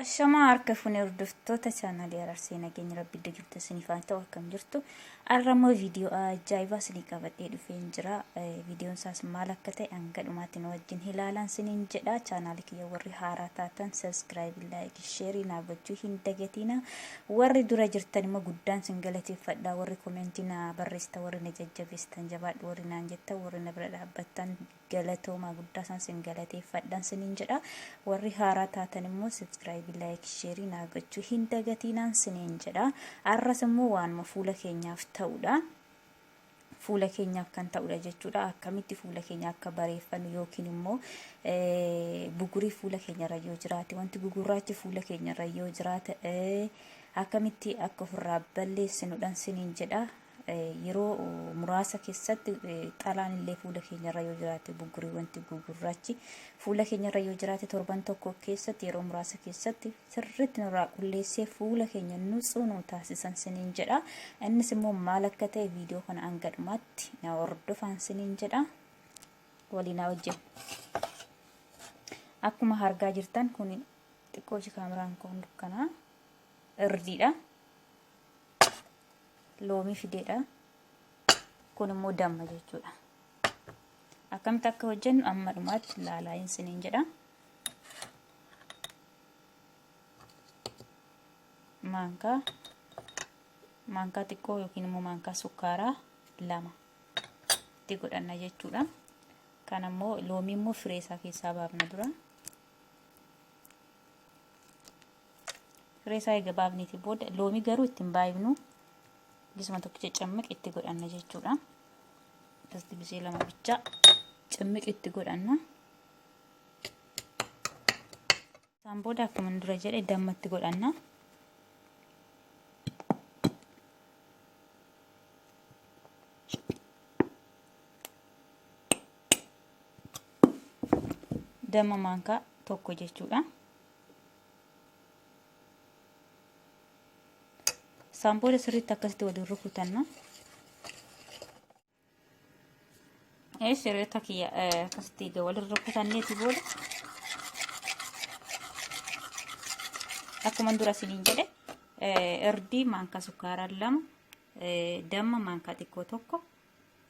Ashamaa harka fuune hordoftoota chaanaalii Araarsee nageenya rabbi iddoo jirtu isiniif haa ta'u akkam jirtu. Har'a immoo viidiyoo ajaa'ibaa isinii qabadhee dhufeen jira. Viidiyoon isaas maal akka ta'e hanga dhumaatti nu wajjin ilaalaan isiniin jedha. Chaanaalii kiyya warri haaraa taatan sabiskiraayib, laayik, sheerii naaf gochuu hin dagatiina. Warri dura jirtan immoo guddaan isin galateeffadha. Warri komentii na barreessitan, warri na jajjabeessitan jabaadhu, warri naan jettan, warri na bira dhaabbattan Galatoomaa guddaasaan sin galateeffadhaan sinin jedha. Warri haaraa taatan immoo sibskraayibii laayikii sheerii naa gochuu hin dagatiinaan sinin jedha. Arras immoo waanuma fuula keenyaaf ta'udha. Fuula keenyaaf kan ta'udha jechuudha. Akkamitti fuula keenya akka bareeffannu yookiin immoo bugurii fuula keenyarra yoo jiraate wanti gugurraachi fuula keenyarra yoo jiraate akkamitti akka ofirraa balleessinudhaan sinin jedha. Yeroo muraasa keessatti xalaan illee fuula keenyarra yoo jiraate bugguree wanti gugurraachi fuula keenyarra yoo jiraate torban tokko keessatti yeroo muraasa keessatti sirriitti nurraa qulleessee fuula keenya nutsuu nu taasisan siniin jedha. Innis immoo maal akka ta'e viidiyoo kana hanga dhumaatti na hordofaan siniin jedha. Waliin hojjetu. Akkuma argaa jirtan kun xiqqoo ishee kaameraan kun dukkanaa irdiidha. loomii fideedha. Kun immoo damma jechuudha. Akkamitti akka hojjennu amma dhumaatti ilaalaa hin siniin jedha. Maankaa maankaa xiqqoo yookiin immoo maankaa sukkaaraa lama itti godhanna jechuudha. Kan ammoo loomii immoo firee isaa keessaa baafna dura. Reesaa eega baafneeti booda loomii garuu itti hin baay'ifnu gisuma tokkicha cammiq itti godhanna jechuudha. Akkasitti gisee lama bichaa cammiq itti godhanna. Isaan booda akkuma dura jedhe damma itti godhanna. Damma maankaa tokko jechuudha. Isaan booda sirriitti akkasitti waliin rukutanna. Eesh hiriyoota kiyya akkasitti egaa waliin rukutanneeti booda akkuma dura isiniin jedhe irdii maankaa sukkaaraa lama damma maankaa xiqqoo tokko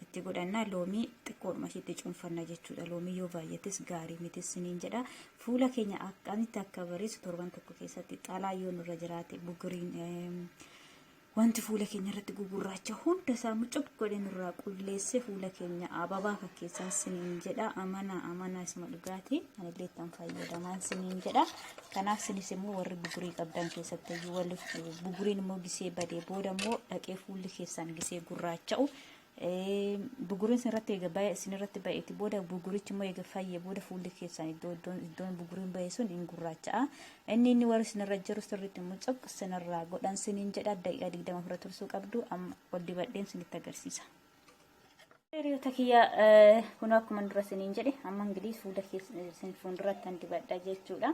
itti godhanna loomii xiqqoodhuma ishiitti cuunfanna jechuudha loomii yoo baay'ates gaarii miti siniin jedha fuula keenya akkamitti akka bareessu torban tokko keessatti xalaa yoo nurra jiraate bugiriin wanti fuula keenya irratti gugurraacha hunda isaa mucuq godhee nurraa qulleessee fuula keenya ababaa fakkeessan siniin jedha amanaa amanaa isuma dhugaati anillee ittiin fayyadamaan siniin jedha. Kanaaf sinis immoo warri bugurii qabdan keessatti iyyuu walli buguriin immoo gisee badee booda immoo dhaqee fuulli keessan gisee gurraacha'u. Buguriin isinirratti eega ba'e isinirratti ba'eeti booda bugurichi immoo eega fayyee booda fuulli keessan iddoo iddoon iddoon buguriin ba'e sun hin gurraacha'a. Inni inni warri isinirra jiru sirriitti immoo cop isinirraa godhan siniin jedha daqiiqaa digdama ofirra tursuu qabdu amma ol dibadheen isinitti agarsiisa. Hiriyoota kiyya kun akkuma dura isiniin jedhe amma ingilis fuula isin fuulduratti kan dibadha jechuudha.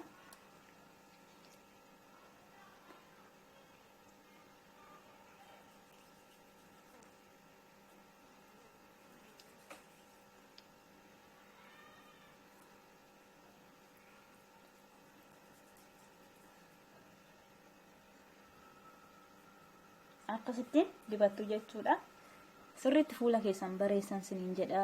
akkasittiin dibattu jechuudha sirriitti fuula keessan bareessan siniin jedha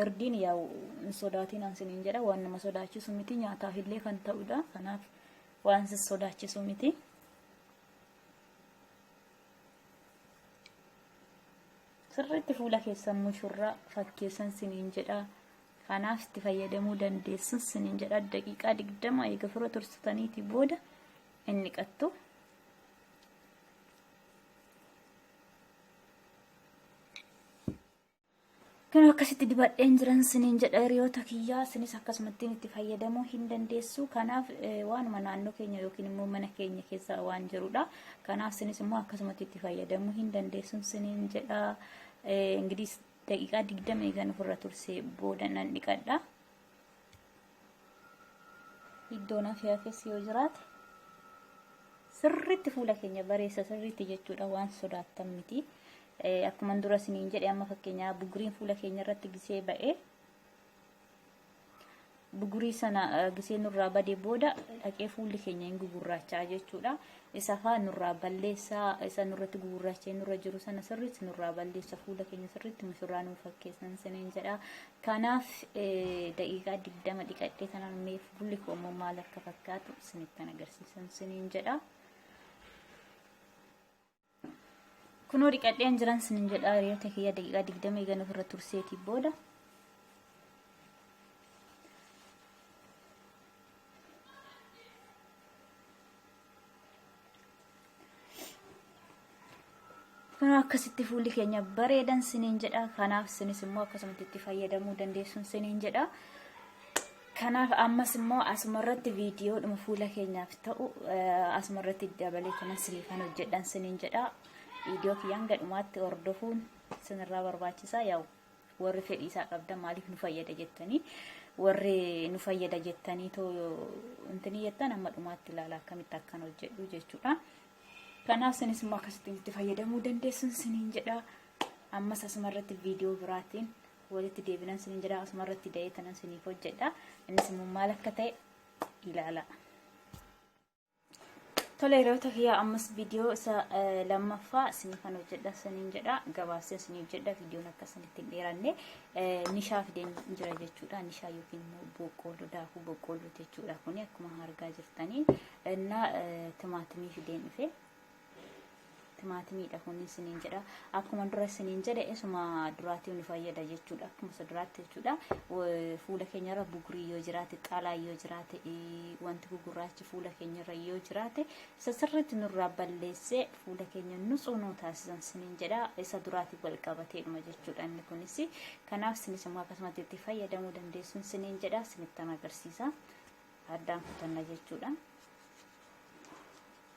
irdiin yaa'u hin sodaatinaan siniin jedha waan nama sodaachisu miti nyaataaf illee kan ta'udha kanaaf waan si sodaachisu miti sirriitti fuula keessan mushurraa fakkeessan siniin jedha Kanaaf itti fayyadamuu dandeessun sinin jedha daqiiqaa digdama eega fura tursitaniitii booda inni qattu. Kan akkasitti dibadheen jiran sinin jedha hiriyoota kiyyaa sinis akkasumattiin itti fayyadamuu hin dandeessu. Kanaaf waanuma naannoo keenya yookiin immoo mana keenya keessa waan jirudha. Kanaaf sinis immoo akkasumatti itti fayyadamuu hin dandeessun sinin jedha. Ingilis Daqiiqaa 20 eegan ofirra tursee booda nan dhiqadha. Iddoon hafe hafes yoo jiraate sirriitti fuula keenya bareessa sirriitti jechuudha waan sodaattan miti. Akkuma dura isiniin jedhe amma fakkeenyaa bugriin fuula keenya irratti gisee ba'ee bugurii sana gisee nurraa bade booda dhaqee fuulli keenya hin gugurraachaa jechuudha. Isa faa nurraa balleessaa isa nurratti gugurraachee nurra jiru sana sirriitti nurraa balleessa fuula keenya sirriitti mushurraa nuuf fakkeessan siniin jedha. Kanaaf daqiiqaa digdama dhiqadhee tanaan mee fuulli koo immoo maal akka fakkaatu sinittan agarsiisan siniin jedha. Kunoo dhiqadheen jiran sinin jedha hiriyoota kiyya daqiiqaa digdama eegan ofirra turseetii booda. Kunoo akkasitti fuulli keenya bareedan sinin jedha kanaaf sinis immoo akkasumatti itti fayyadamuu dandeessun sinin jedha. Kanaaf ammas immoo asuma irratti viidiyoodhuma fuula keenyaaf ta'u asuma irratti dabalee kanan siniifan hojjedhan siniin jedha. Viidiyoo kiyya hanga dhumaatti hordofuun sinirraa barbaachisaa yaa'u warri fedhii isaa qabdan maaliif nu fayyada jettanii warri nu fayyada jettanii too intini jettan amma dhumaatti ilaala akkamitti akkan hojjedhu jechuudha. Kanaaf sinis immoo akkasittiin itti fayyadamuu dandeessun siniin jedha. Ammas asuma irratti viidiyoo biraatiin walitti deebinan isiniin jedha asuma irratti da'ee tanan isiniif hojjedha innis immoo maal akka ta'e ilaala. Tole hiriyoota kiyyaa ammas viidiyoo isa lammaffaa isiniifan hojjedha isiniin jedha gabaasee isiniif jedha viidiyoon akka isinitti hin dheeranne nishaa fideen jira jechuudha nishaa yookiin immoo boqqoolloo daakuu boqqoolloo jechuudha kuni akkuma argaa jirtanii innaa timaatimii fideen dhufe timaatimiidha kun isiniin jedha akkuma dura isiniin jedhe isuma duraatii nu fayyada jechuudha akkuma isa duraatti jechuudha fuula keenyarra bugurii yoo jiraate xaalaa yoo jiraate wanti gugurraachi fuula keenyarra yoo jiraate isa sirriitti nurraa balleessee fuula keenya nutsuu nuu taasisan isiniin jedha isa duraatii wal qabateedhuma jechuudha inni kunis kanaaf isinis immoo akkasumatti itti fayyadamuu dandeessuun isiniin jedha isinittan agarsiisa addaan kutanna jechuudha.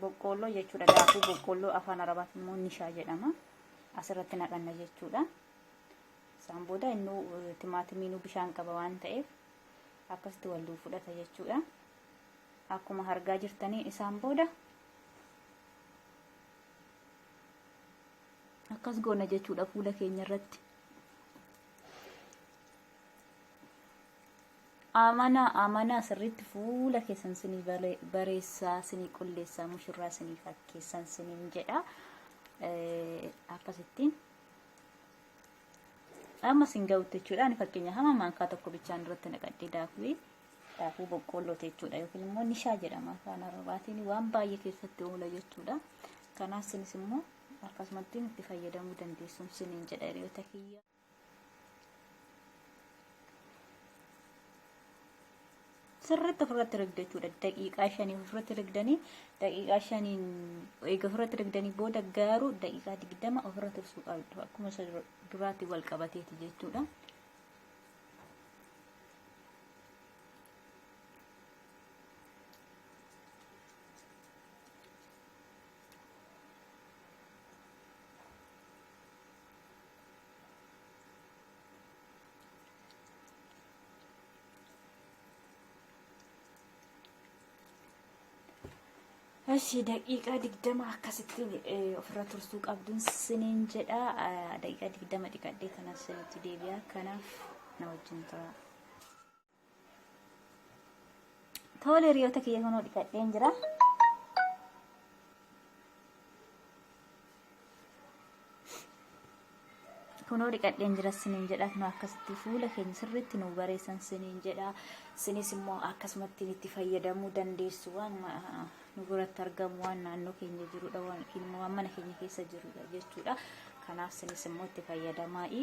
Boqqoolloo jechuudha. Daakuu boqqoolloo afaan arabaatiin immoo nishaa jedhama. Asirratti naqanna jechuudha. Isaan booda innuu timaatimiinuu bishaan qaba waan ta'eef akkasitti waliin fudhata jechuudha. Akkuma hargaa jirtanii isaan booda akkas goona jechuudha fuula keenya irratti. Amanaa amanaa sirriitti fuula keessan sinii bareessaa sinii qulleessaa mushurraa sinii fakkeessan siniin jedha akkasittiin amma sin ga'utti jechuudha ani fakkeenya hama maankaa tokko bichaan irratti naqadhee daakuu daakuu boqqoolloo jechuudha yookiin immoo nishaa jedhama afaan arabaatiin waan baay'ee keessatti oola jechuudha kanaaf sinis immoo akkasumatti itti fayyadamuu dandeessuun siniin jedha hiriyoota kiyya. sirriitti ofirratti rigdu jechuudha. Daqiiqaa shanii ofirratti rigdanii daqiiqaa shaniin eega ofirratti rigdanii booda garuu daqiiqaa digdama ofirra tursuu qabdu. Akkuma isa duraatti wal qabateeti jechuudha. Eshi daqiiqaa digdama akkasitti ofirra tursuu qabduun siniin jedha daqiiqaa digdama dhiqadhee kanas isinitti deebi'a kanaaf na wajjin tura. Tole hiriyoota kiyya kunoo dhiqadheen jira. Kunoo dhiqadheen jira siniin jedha kunoo akkasitti fuula keenya sirriitti nu bareessan siniin jedha. Sinis immoo akkasumatti itti fayyadamuu dandeessu waan nu biratti argamu waan naannoo keenya jirudha waan immoo waan mana keenya keessa jirudha jechuudha. Kanaaf sinis immoo itti fayyadamaa'i.